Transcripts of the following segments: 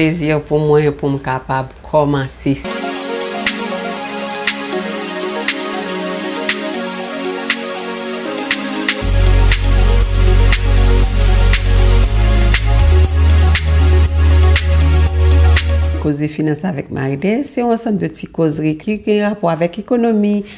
plezi pou mwen pou m kapab kòmanse. Koze finans avèk Maryde se yon ansanm de ti kozri ki gen rapò avèk ekonomi,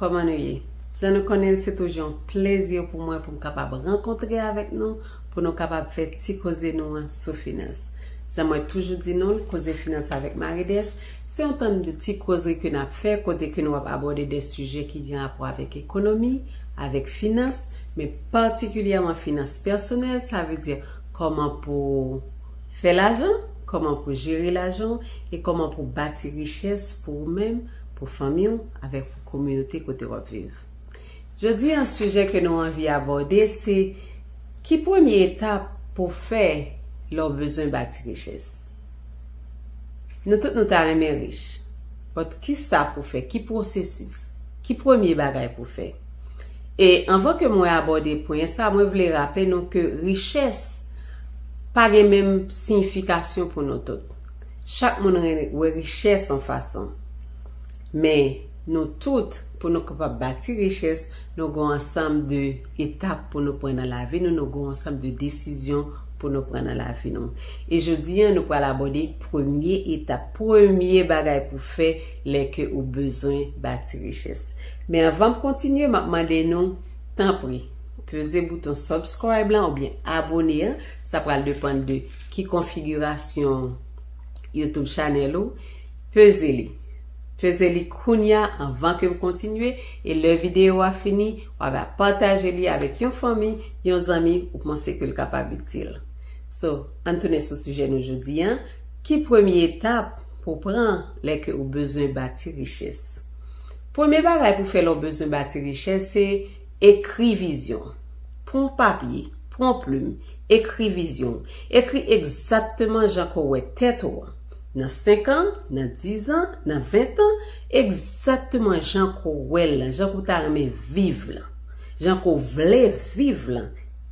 Kòman nou ye? Jan nou konnen l, se toujou yon plezi pou mwen pou m kapab rankontre avèk nou pou nou kapab fè ti koze nou an sou finans. Jan mwen toujou di nou l, Koze Finans avèk Marie-Des, se yon tann de ti kozri ke n ap fè kote ke nou ap abòde de sijè ki gen rapò avèk ekonomi, avèk finans, men patikilyèman finans pèsonèl, sa vle di kòman pou w fè lajan, kòman pou w jere lajan w e kòman pou w bati richès pou ou menm, pou fanmi w. avèk kominote kote wap viv. Jodi an sijè ke nou anvi abòde se ki premye etap pou w fè lè w bezwen bati richès. Nou tout nou ta renmen rich, but kisa pou w fè, ki pwosesis, ki premye bagay pou w fè. E anvan ke mwen abòde pwen sa mwen vle raple nou ke richès pa gen menm siyifikasyon pou nou tout. Chak moun wè richès on fason. Men, nou tout, pou nou kapab bati richès, nou gon ansanm de etap pou nou pran nan lavi nou, nou gon ansanm de desizyon pou nou pran nan lavi nou. E jodi an nou pral abòde premye etap, premye bagay pou fè lè ke ou bezwen bati richès. Men anvan m kontinye map mande nou, tanpri, peze bouton subscribe lan oubyen abone an, sa pral depann de ki konfigirasyon YouTube channel ou, Peze li. Peze li kounya anvan ke m kontinye e lè videyo a fini wa va pataje li avèk yon fanmi, yon zanmi ou panse ke l kapab itil. So, ann tounen sou sijè nou jodi an, ki premye etap pou w pran lè ke ou bezwen bati richès? Premye bagay pou w fè lè w bezwen bati richès se ekri vizyon w. Pran papye, pran plim, ekri vizyon w. Ekri egzakteman jan ke w wè tèt ou an. Nan 5 an, nan 10 an, nan 20 tan, egzakteman jan ke w wè l lan, jan ke w ta renmen viv lan, jan ke w vle viv lan,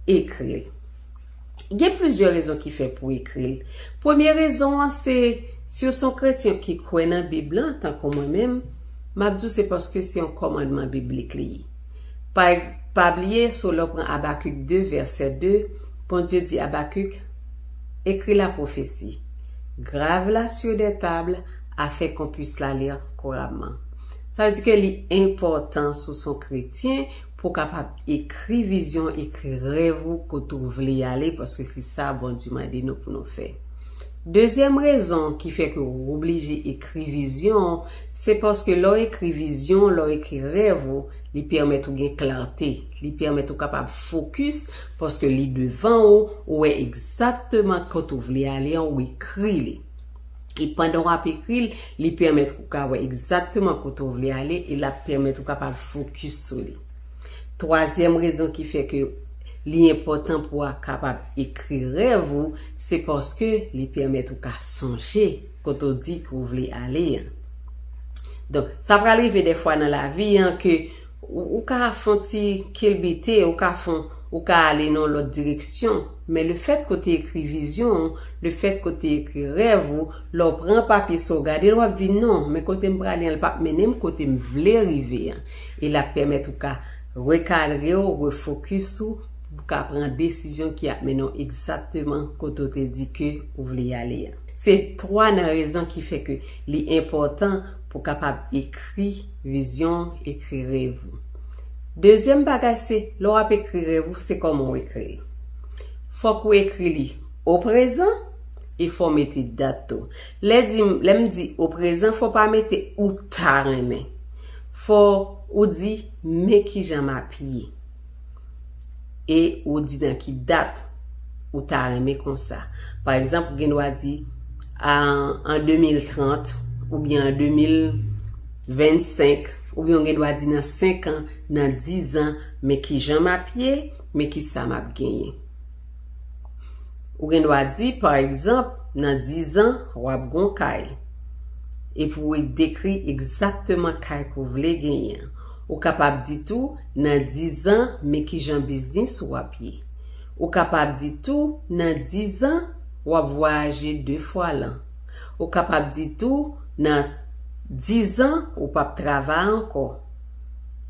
ekri l. Gen plizyè rezon ki fè pou w ekri l. Premye rezon an se, si w se yon kretyen ki kwè nan Bib lan, tankou mwen menm, m ap di w se paske se yon kòmandman biblik li ye. Pa Pa bliye, sou lè w pran Abakik 2, vèsè 2, Bondye di Abakik, Ekri la pwofesi. Grave la sur des tables afin qu'on puisse la lire couramment. Sa vle di ke li enpòtan si w se yon kretyen pou w kapab ekri vizyon, ekri rèv ou kote ou vle y ale paske se sa Bondye mande nou pou nou fè. Dezyèm rezon ki fè ke ou oblije ekri vizyon ou se paske lè w ekri vizyon ou, lè w ekri rèv ou, li pèmèt ou gen klarte, li pèmèt ou kapab fokis Paske li devan ou, ou wè egzakteman kot ou vle ale an, ou ekri li. E pandan w ap ekri l, li pèmèt ou ka wè egzakteman kote ou vle ale e l ap pèmèt ou kapab fokis sou li. Twazyèm rezon ki fè ke li enpòtan pou a kapab ekri rèv ou, se paske li pèmèt ou ka sonje kote ou di ke ou vle ale an. Donk, sa pral rive dèfwa nan lavi an ke Ou ka fon ti kilbite, ou ka fon, ou ka ale nan yon lòt direksyon, men le fèt ke w te ekri vizyon w, le fèt ke w te ekri rèv ou, lè w pran papye sa w gade l w ap di non, men kote m prale an l pap mennen m kote m vle rive an. E l ap pèmèt ou ka rekadre w, refokis ou, pou w ka pran desizyon ki ap mennen w egzakteman kote w te di ke ou vle ale an. Se 3 nan rezon ki fè ke li enpòtan pou w kapab ekri. Vizyon, Ekri rèv ou. Dezyèm bagay se, lè w ap ekri rèv ou, se kòman w ekri li. Fòk ou ekri li o prezan e fò w mete dat tou. Lè di m, lè m di o prezan fò w pa mete ou ta renmen. Fò ou di men kijan m ap ye. e ou di nan ki dat ou ta renmen konsa. Pa egzanp, ou gen dwa di an 2030 oubyen an 2025 oubyen ou gen dwa di nan 5 an, nan 10 an, men ki jan m ap ye, men ki sa m ap genyen. Ou gen dwa di, pa egzanp, nan dizan, w ap gen yon kay. Epi w dekri egzakteman kay ke w vle genyen an. Ou kapab di tou, nan dizan, men kijan biznis ou ap ye. Ou kapab di tou, nan dizan, w ap vwayaje de fwa lan. Ou kapab di tou, nan dizan, ou p ap travay ankò.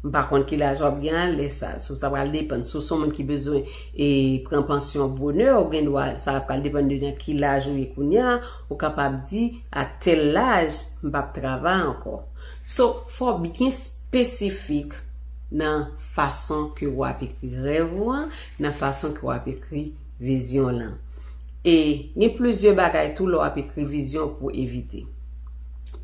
M pa konn ki laj w ap gen a lè sa. Sa pral depann. Si w se yon moun ki bezwen E pran pansyon bonè ou gen dwa, sa ap pral depann de nan ki laj ou ye kounya, ou kapab di a tèl laj m pap travay ankò. So fò w byen spesifik nan fason ke ou ap ekri rèv ou an, nan fason ke w ap ekri vizyon w lan. E gen plizyè bagay tou lè w ap ekri vizyon pou w evite.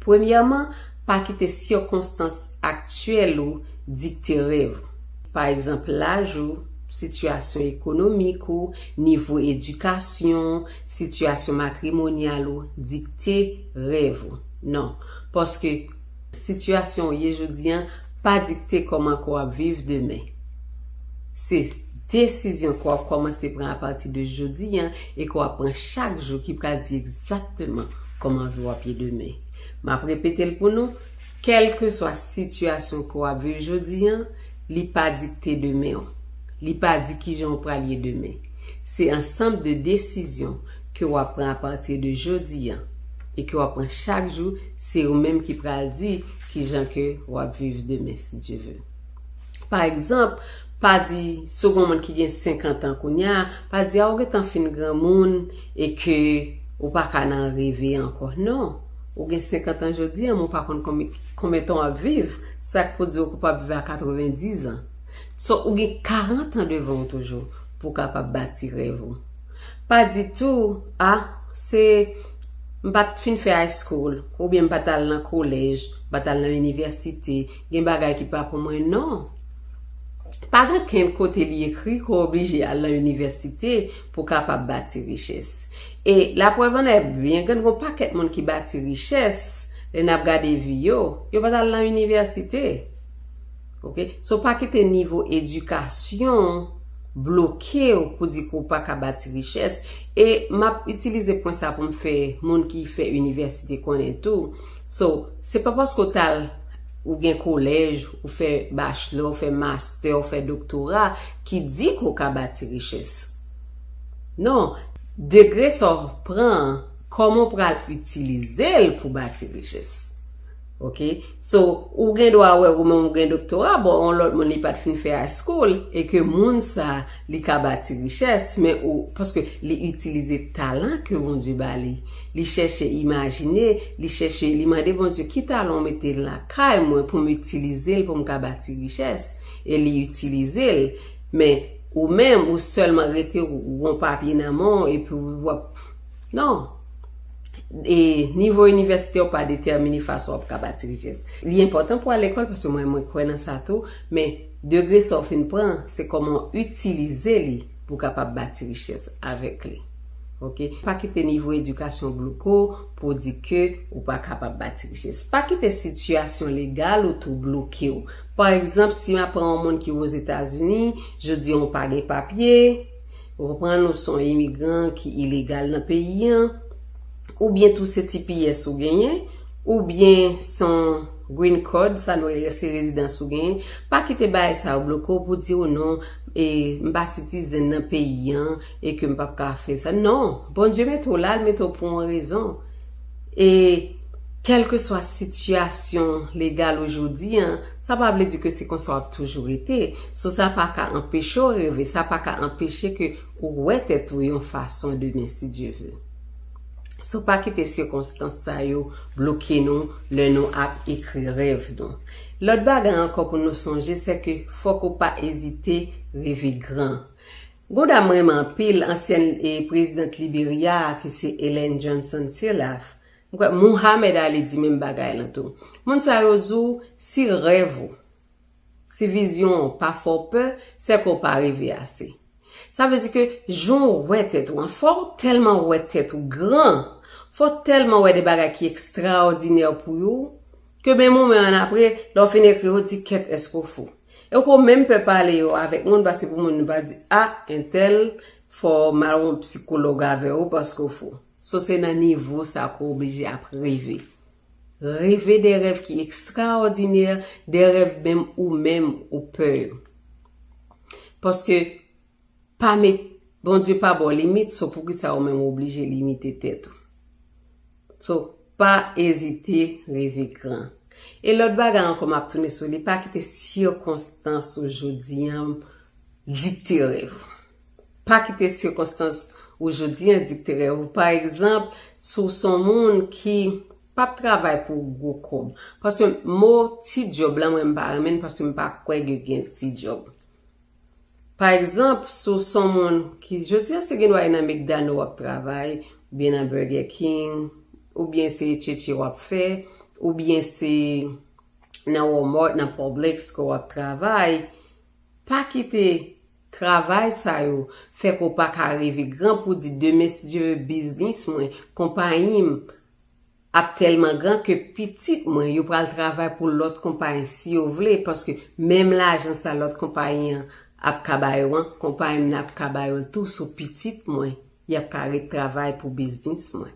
Premyèman, pa kite sikonstans aktyèl ou dikte rèv ou. pa egzanp laj ou, sitiyasyon ekonomik ou, nivo edikasyon w, sitiyasyon matrimonyal ou, dikte rèv ou. Non. Paske, sitiyasyon ou ye jodi an pa dikte kòman ke w ap viv demen. Se desizyon ke w ap kòmanse pran apati de jodi an e ke w ap pran chak jou ki pral di egzakteman kòman vi w ap ye demen. M ap repete l pou nou. Kèlkeswa sitiyasyon ke w ap viv jodi an, li pa dikte demen w. Li pa di kijan w pral ye demen. Se ansanm de desizyon ke w ap pran apati de jodi an e ke w ap pran chak jou, se ou menm ki pral di kijan ke w ap viv demen si Dye ve. Pa egzanp, pa di segon moun ki gen 50 an kounya, pa di a ou gentan fin granmoun e ke ou pa ka nan reve ankò. Non, ou gen 50 an jodi a men ou pa konn konbyen tan w ap viv, sa k pou di w ke w pa p viv a 90 an. So, ou gen 40 an devan w toujou pou w kapab bati rèv ou. Pa di tou, a, se, m pa t fin fè high school, oubyen m pa t al nan kolèj, m pa t al nan inivèsite, Gen bagay ki pa pou mwen non. Pa gen okenn kote li ekri ke w oblije al lan inivèsite pou w kapab bati richès. E la prèv an è byen grann gen yon pakèt moun ki bati richès, lè n ap gade vi yo, yo pa t al lan inivèsite. Ok. So pa kite nivo edikasyon w bloke w pou di ke w pa ka bati richès. E m ap itilize pwen sa pou m fè moun ki fè inivèsite konnen tou. So, se pa paske w t al, ou gen kolèj, ou fè bachelò, ou fè mastè, ou fè doktora, ki di ke w ka bati richès. Non, degre sa w pran an, kòman w pral itilize l pou bati richès. Ok? So, ou gen dwa wè ou menm ou gen doktora, bon, yon lòt moun li pa t fin fè high school, e ke moun sa, Li ka bati richès, men ou, paske li itilize talan ke Bondye ba li. Li chèche imajine, li chèche, li mande Bondye, ki talan ou mete lakay mwen pou m itilize l pou m ka bati richès? E li itilize l. Men, ou menm, ou sèlman rete, ou gon papye nan men w, epi w ap, non. E, nivo inivèsite w pa detèmine fason w ap ka bati richès. Li enpòtan pou w al lekòl, paske mwen, mwen kwè nan sa tou, men. Degre sa w fin pran, se kòman w itilize li pou w kapab bati richès avèk li. Ok. Pa kite nivo edikasyon w blouke w pou w di ke ou pa kapab bati richès. Pa kite sitiyasyon legal ou tou blouke w. Pa egzanp, si m aprann yon moun ki Ozetazini, jodi an ou pa gen papye, Ou konprann ou son imigran ki ilegal nan peyi an, ou byen tou se tps ou genyen, ou byen son green card, sa nou rele se rezidans ou genyen, pa kite bagay sa yo bloke w pou di ou non e m pa sitizen nan peyi an e ke m pap ka fè sa. Non, Bondye mete w la, l mete w pou yon rezon. E kèlkeswa sitiyasyon legal ou jodi an, Sa pa vle di ke se konsa w ap toujou rete. So sa pa ka anpeche w reve, sa pa ka anpeche ke ou wè tèt ou yon fason demen si Dye ve. So pa kite sikonstans sa yo bloke nou lè nou ap ekri rèv nou. Lòt bagay ankò pou nou sonje se ke fòk ou pa ezite reve gran. Gon dam m renmen anpil, ansyèn Prezidant Liberya a ki se Ellen Johnson Sirleaf, M kwè Muhammad Ali di menm bagay lan tou. Moun sa yo zou si rèv ou, si vizyon ou pa fè w pè, sè ke w pa reve ase. Sa vle di ke jan w wè tèt ou an, fò w tèlman wè tèt ou gran, fò w tèlman wè de bagay ki ekstraòdinè pou yo, ke menm ou menm annapre, lè w fin ekri yo, w di kèt èske w fou. E w ko menm pè pale yo avèk moun paske pou moun pa di a entèl fò w al wè yon psikològ avè w paske w fou. So se nan nivo sa ke w oblije ap reve. Reve de rèv ki ekstraòdinè, de rèv menm ou menm ou pè yo. Paske pa met, Bondye pa ba w limit, so poukisa ou menm ou oblije limite tèt ou. So pa ezite reve gran. E lòt bagay ankò m ap tounen sou li, pa kite sikonstans ou jodi an dikte rèv ou. Pa kite sikonstans ou jodi an dikte rèv ou. Pa egzanp, si w se yon moun ki p ap travay pou gwo kòb. Paske mo ti djòb la mwen m pa renmen l paske m pa kwè ke gen ti djòb. Pa egzanp, si w se yon moun ki jodi an se gendwa e nan McDonald w ap travay, oubyen nan Burger King, oubyen se tchetche w ap fè, oubyen se nan Walmart, nan Publix ke w ap travay, pa kite Travay sa yo fè konpa ka reve gran pou di demen si Dye ve biznis mwen, konpayi m ap tèlman gran ke pitit mwen yo pral travay pou lòt konpayi si yo vle paske menm lajan sa lòt konpayi an ap ka ba yo an konpayi m nan ap ka ba yo l tou sou pitit mwen y ap ka ret travay pou biznis mwen.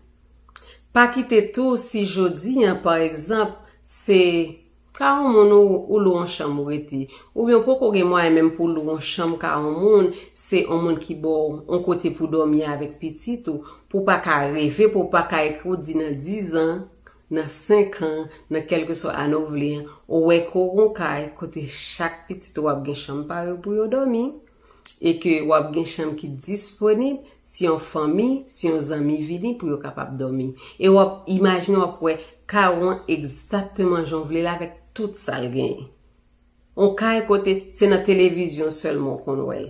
Pa kite tou si jodi an pa egzanp se Ka on moun ou ou lou on chanm ou rete. Oubyen ou poko gen mwayen menm pou lou on chanm ka on moun, se on moun ki ba w on kote pou dòmi avèk pitit ou, pou w pa ka reve, pou w pa ka ekri w di nan dizan, nan senkan, nan kèlkeswa ane w vle an, ou wè ke w gen on kay kote chak pitit ou ap gen chanm pa yo pou yo dòmi. E ke w ap gen chanm ki disponib si yon fanmi, si yon zanmi vini pou yo kapab dòmi. E w ap imajine w ap wè kay ou an egzakteman jan w vle l avèk tout sa l genyen. Yon kay kote se nan televizyon sèlman w konn wè l.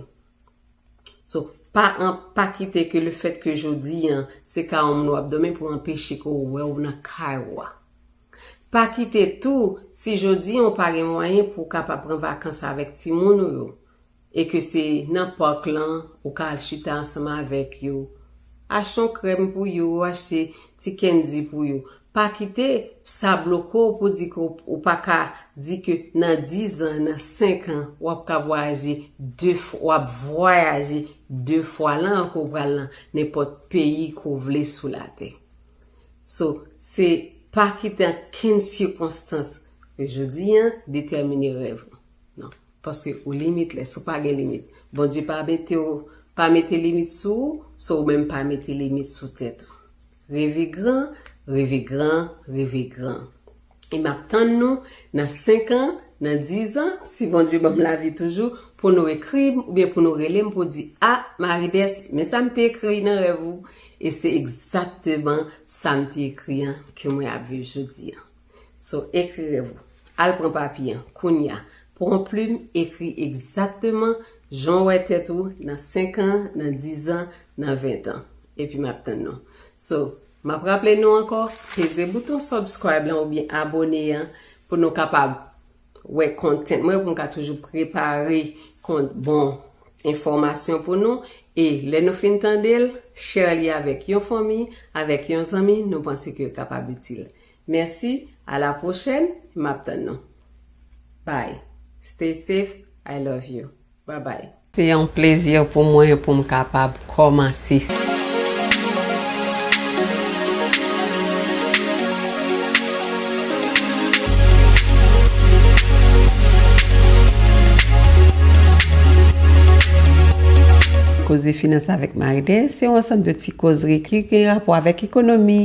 So, pa an, pa kite ke le fèt ke jodi an se kay yon moun w ap dòmi pou anpeche ke w wè w nan kay ou a. Pa kite tou, si jodi an w pa gen mwayen pou w kapab pran vakans avèk timoun ou yo, e ke se nan park lan ou ka al chita ansanm avèk yo, achte yon krèm pou yo, achte ti candy pou yo. Pa kite sa bloke w pou di ke ou pa ka di ke nan 10 an, nan 5 an w ap ka vwayaje 2 fwa, w ap vwayaje 2 fwa lan ke w pral nan nenpòt peyi ke w vle sou latè. So, se pa kite ankenn sikonstans jodi an detèmine rèv ou. Non. Paske ou limitless, ou pa gen limit. Bondye pa mete w, pa mete limit sou ou, so ou menm pa mete limit sou tèt ou. Reve gran, reve gran, reve gran. E m ap tann nou nan 5 an, nan 10 an, si Bondye ban m lavi toujou, pou nou ekri m oubyen pou nou rele m pou di, a, Marides, men sa m te ekri nan rèv ou, e se egzakteman sa m te ekri an ke mwen ap viv jodi an. So, ekri rèv ou. Al pran papye an, kounye a. Pran plim, ekri egzakteman jan w wè tèt ou nan 5 an, nan 10 an, nan 20 tan. Epi m ap tann nou. So, m ap raple nou ankò, peze bouton subscribe lan oubyen abone an pou nou kapab wè content mwen, pou m ka toujou prepare kont bon enfòmasyon pou nou. E lè nou fin tande l, share li avèk yon fanmi, avèk yon zanmi nou panse ke l kapab itil. Merci a la prochèn map tann nou bby stay safe I love you bye bye. Se yon plezi pou mwen pou m kapab kòmanse. Koze Finans avèk Marie-Thérèse se yon ansanm de ti kozri ki gen rapò avèk ekonomi,